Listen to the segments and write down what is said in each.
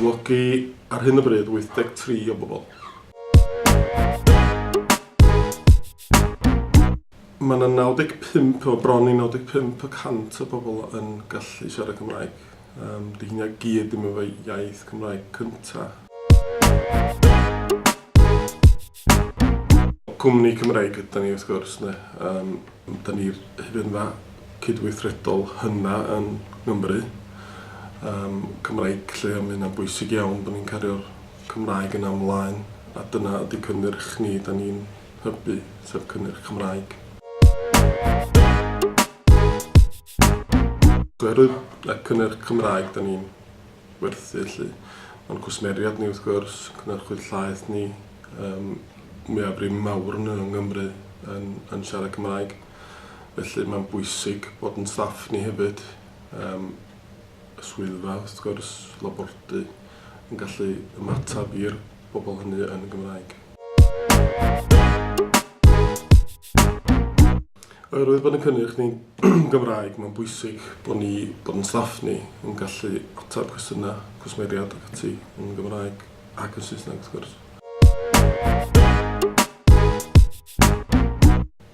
cyflogi ar hyn o bryd 83 o bobl. Mae yna 95 o bron i 95 y cant o bobl yn gallu siarad Cymraeg. Yym, 'di hynna gyd ddim efo iaith Cymraeg cynta. Cwmni Cymreig ydan ni wrth gwrs, ne? Yym, da ni'r hufenfa cydweithredol hynna yn Nghymru. Yym, Cymraeg lle, mae hynna'n bwysig iawn bod ni'n cario'r Cymraeg yna ymlaen, a dyna ydy cynnyrch ni, da ni'n hybu, sef cynnyrch Cymraeg. Oherwydd y cynnyrch Cymraeg da ni'n werthu 'lly. O'n cwsmeriad ni wrth gwrs, cynhyrchwyr llaeth ni, yym mwyafrif mawr nhw yng Nghymru yn yn siarad Cymraeg. Felly mae'n bwysig bod yn staff ni hefyd, yym y swyddfa wrth gwrs, labordy, yn gallu ymateb i'r bobl hynny yn Gymraeg. Oherwydd bod yn cynnyrch ni'n Gymraeg, mae'n bwysig bod ni, bod yn staff ni, yn gallu ateb cwestiynau, cwsmeriaid ac ati yn Gymraeg ac yn Saesneg wrth gwrs.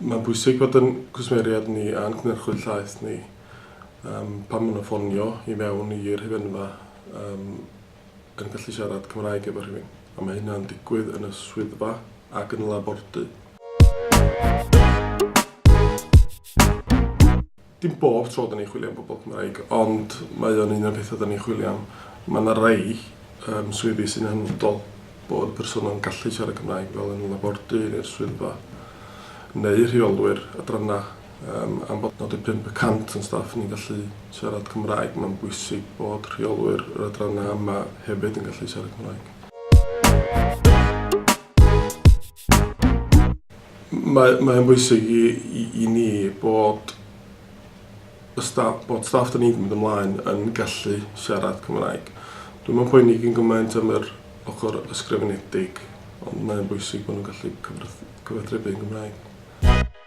Mae'n bwysig bod yn cwsmeriaid ni a'n cynhyrchwyr llaeth ni um, pan maen nhw'n ffonio i mewn i'r hyfenfa um, yn gallu siarad Cymraeg efo rhywun, a mae hynna'n digwydd yn y swyddfa ac yn y labordy. Dim bob tro da ni'n chwilio am bobl Cymraeg, ond mae o'n un o'r pethau da ni'n chwilio am. Mae yna rei um, swyddi sy'n hanfodol bod y person yn gallu siarad Cymraeg fel yn y labordy neu'r swyddfa neu rheolwyr adrannau Yym, am bod 95 y cant o'n staff ni'n gallu siarad Cymraeg, mae'n bwysig bod rheolwyr yr adrannau yma hefyd yn gallu siarad Cymraeg. Mae, mae'n bwysig i, i, i ni bod y staff, bod staff da ni'n mynd ymlaen yn gallu siarad Cymraeg. Dwi'n meddwl poeni gyn gymaint am yr ochr ysgrifenedig, ond mae'n bwysig bod nhw'n gallu cyfathrebu yn Gymraeg.